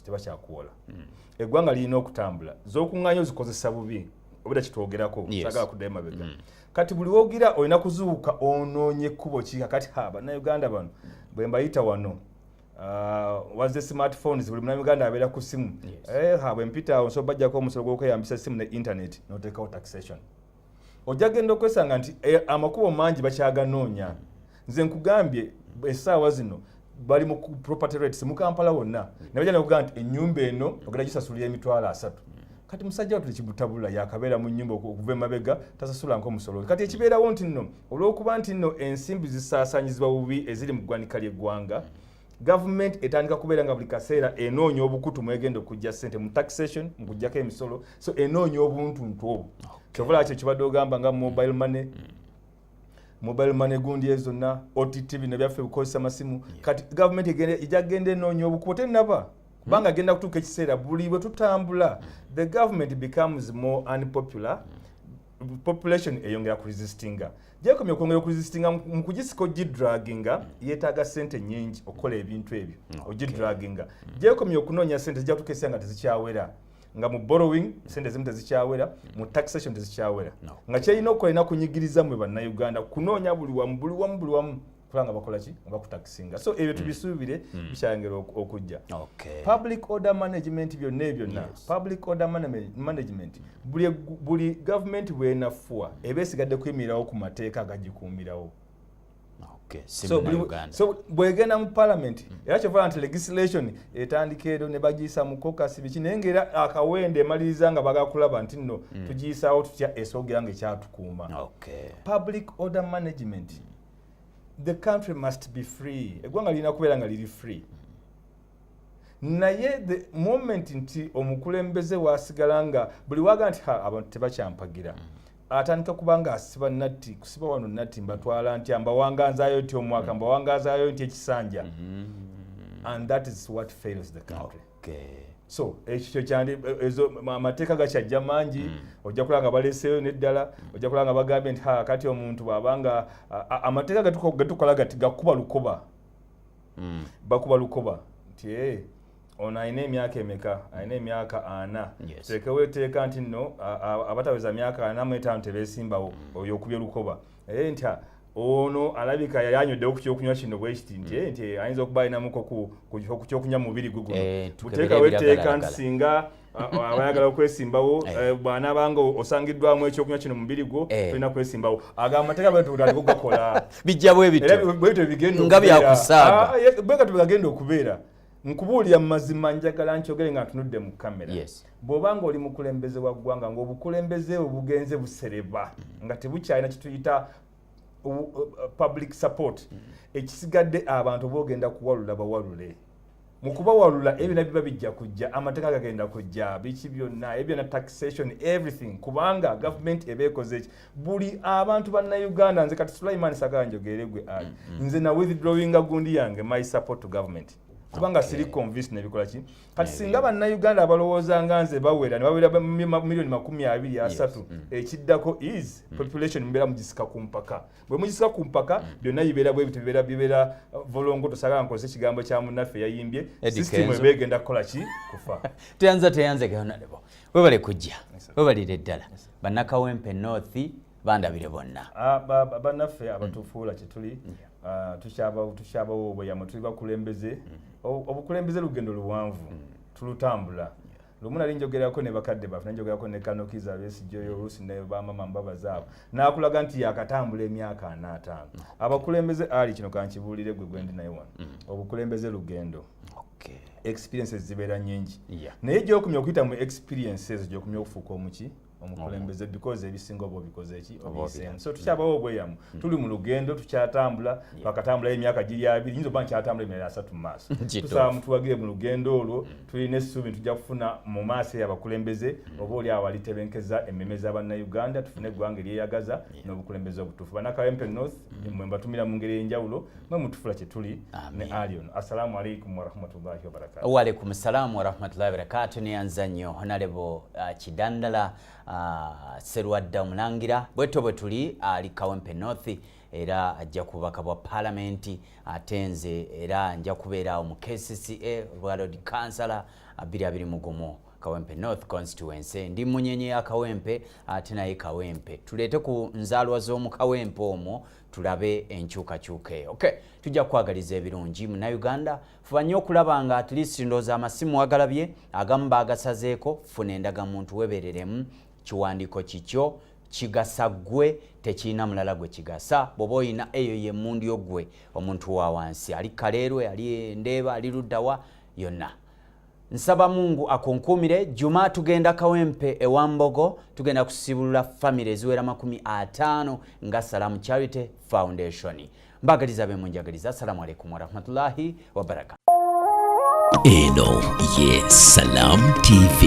tebakyakuwola hmm. eggwanga lirina okutambula zokuŋŋanya ozikozesa bubi obera kitwogerako sagala kuddayo mabega hmm. kati buli wogira olina kuzuuka onoonye ekkubo ki kakati ha bannayuganda bano bwe mbayita wano Uh, was the smartphones buli muna uganda abeera ku simu yes. eh, ha bwempita awo nsoba bajjako omusolo gwokweyambisa simu ne internet notekawo taxation ojja genda okwesanga nti eh, amakubo mangi bakyaganoonya nze nkugambye esaawa zino bali mu property rates mu kampala wonna nabaja nakugaa nti enyumba eno ogenda gisasulira emitwalo asatu kati musajja watu tekibutabula yakabeera mu nyumba okuva emabega tasasulanko omusolo kati ekibeerawo nti nno olwokuba nti nno ensimbi zisaasanyizibwa bubi eziri mu ggwanika ly'eggwanga gavumenti etandika kubeera nga buli kaseera enoonya obukutu mwegenda okujja sente mu taxation mu kujjako emisolo so enoonya obuntuntu obwo kyovula okay. kyo kibadde ogamba nga mobile money mm. mobile money gundi ezo zonna ott bino byaffe ebikozesa masimu yeah. kati gavumenti ejja kugenda enoonya obukubo tenaba hmm. kubanga mm. agenda kutuuka ekiseera buli bwe tutambula mm. the government becomes more unpopular mm. population eyongera ku resistinga gyekomye okwongera oku resistinga mu kugisika ogidraginga mm. yetaaga sente nyingi okukola ebintu ebyo ogidraginga mm. gyekomye okunoonya sente zijatukesa nga tezikyawera nga mu borrowing mm. sente zimu tezikyawera mu taxation tezikyawera nga kyerina okukola erina kunyigiriza mwe bannayuganda kunoonya buli wamu buli wamu buli wamu kubanga bakola ki nga bakutakisinga so ebyo mm. tubisuubire mm. bikyayongera okujja public order management byonna ebyonna public order management buli gavumenti bwenafuwa eba esigadde kuyimirirawo ku mateeka agagikuumirawo so bwegenda mu palamenti mm. era kyovala nti legislation etandika ero ne bagiyisa mu kokasi biki naye ngaera akawenda emaliriza nga bagakulaba nti nno tugiyisawo tutya esogera nga ekyatukuuma public order management the country must be free eggwanga lirina kubeera nga liri free naye the moment nti omukulembeze wasigala nga buli waga nti abantu tebakyampagira mm. atandika kubanga asiba natti kusiba wano natti mbatwala ntya mbawanganzayo ti omwaka mm. mbawanganzayo nti ekisanja mm-hmm. and that is what fails the country so ekyo eh, kyandi eh, ezo amateeka gakyajja mangi mm. ojja kulaba nga baleseeyo neddala mm. ojja kulaba nga bagambye nti kati omuntu bwaba nga amateeka getukola gati gakuba lukoba mm. bakuba lukoba nti eh, ono alina emyaka emeka alina emyaka ana teekewo eteeka nti nno abataweza myaka ana mu etaano tebesimbawo oyo okubye lukoba naye nti ono alabika yali anyweddewo ku kyokunywa kino bwe kiti nti mm. eh, nti eh, ayinza okuba alinamuko ku kyokunywa mumubiri gwe guno eh, buteekawo etteeka nti singa abayagala okwesimbawo bwanaabanga osangiddwamu ekyokunywa kino mubiri gwo tolina kwesimbawo ago amateeka bwetutandika okugakola bijja bwebityo nga byakusaabwegatuegagenda okubeera nkubuulira mu mazima njagala nkyogere nga ntunudde mu kamera yes. bw'oba nga oli mukulembeze wa ggwanga ng'obukulembeze bwe bugenze busereba mm. nga tebukyalina kituyita uh, public support mm. ekisigadde abantu bogenda kuwalula bawalule mu kubawalula ebyo na biba bijja kujja amateeka gagenda kujja biki byonna ebyo na taxation everything kubanga gavumenti eba ekoze eki buli abantu bannayuganda nze kati sulaiman sagala njogeere gwe ali mm, mm. nze na withdrawinga gundi yange my support to government kubanga okay. siri convince nebikola ki kati yeah, singa bannayuganda abalowooza nga nze bawera nebawera milioni makumi abiri asatu yes. mm. ekiddako is mm. population mubeera mugisika ku mpaka bwe mugisika ku mpaka mm. byonna mm. bibeera bwebito bibeera bibeera uh, volongo tosagala nkozesa ekigambo kya munnaffe yayimbye system eba egenda kukola ki kufa teyanza teyanza gayonalebo webale kujja webalire ddala bannakawempe north bandabire bonna ah, bannaffe mm. abatufuula kyetuli mm. ah, tukyabawo obweyamo tuli bakulembeze mm. obukulembeze lugendo luwanvu tulutambula lumu nali njogerako ne bakadde baffe nanjogerako ne kanokiza besijoyo oluusi ne bamama mbabaza abo nakulaga nti yakatambula emyaka anaataano abakulembeze ali kino kankibuulire gwe gwendi naye wano obukulembeze lugendo okay. experiences zibeera nyingi yeah. naye gyokumya okuyita mu experiences gyokumya okufuuka omuki omukulembeze because ebisinga oba obikoze eki obiseemu so tukyabawo obweyamu hmm. tuli mu lugendo tukyatambula twakatambulayo emyaka giri abiri nyinza okuba nkyatambula emyala asatu mu maaso tusaba mutuwagire mu lugendo olwo hmm. tulina essuubi ntujja kufuna mu maaso eyo abakulembeze hmm. oba oli awo alitebenkeza emmeme za bannayuganda tufune eggwanga eryeyagaza n'obukulembeze obutuufu banakawempe north mwe mbatumira mu ngeri ey'enjawulo mwe mutufula kyetuli ne ali ono assalamu alaikum warahmatullahi wabarakatu waalaikum ssalamu warahmatullahi wabarakatu neyanza nnyo honalebo uh, kidandala uh, serwadda omulangira bwetyo bwe tuli ali uh, kawempe north era ajja kubaka bwa palamenti ate nze era nja kubeeraawo mu kcca olwa lord councilor abiri abiri mugumu kawempe north constituency ndi munyenye ya kawempe ate naye kawempe tuleete ku nzaalwa z'omu kawempe omwo tulabe enkyukakyuka eyo okay. tujja kukwagaliza ebirungi munauganda fuba nnyo okulaba nga at least ndooza amasimu wagalabye agamu bagasazeeko funa endagamuntu webereremu kiwandiiko kikyo kigasa gwe tekirina mulala gwe kigasa bwoba olina eyo yemundu yo gwe omuntu wa wansi ali kaleerwe ali endeeba ali luddawa yonna nsaba mungu akunkumire juma tugenda kawempe ewambogo tugenda kusibulula famiry eziwera makumi ataano nga salamu charity foundation mbagaliza be munjagaliza assalamu alaikum warahmatullahi wabarakatu eno ye salamu tv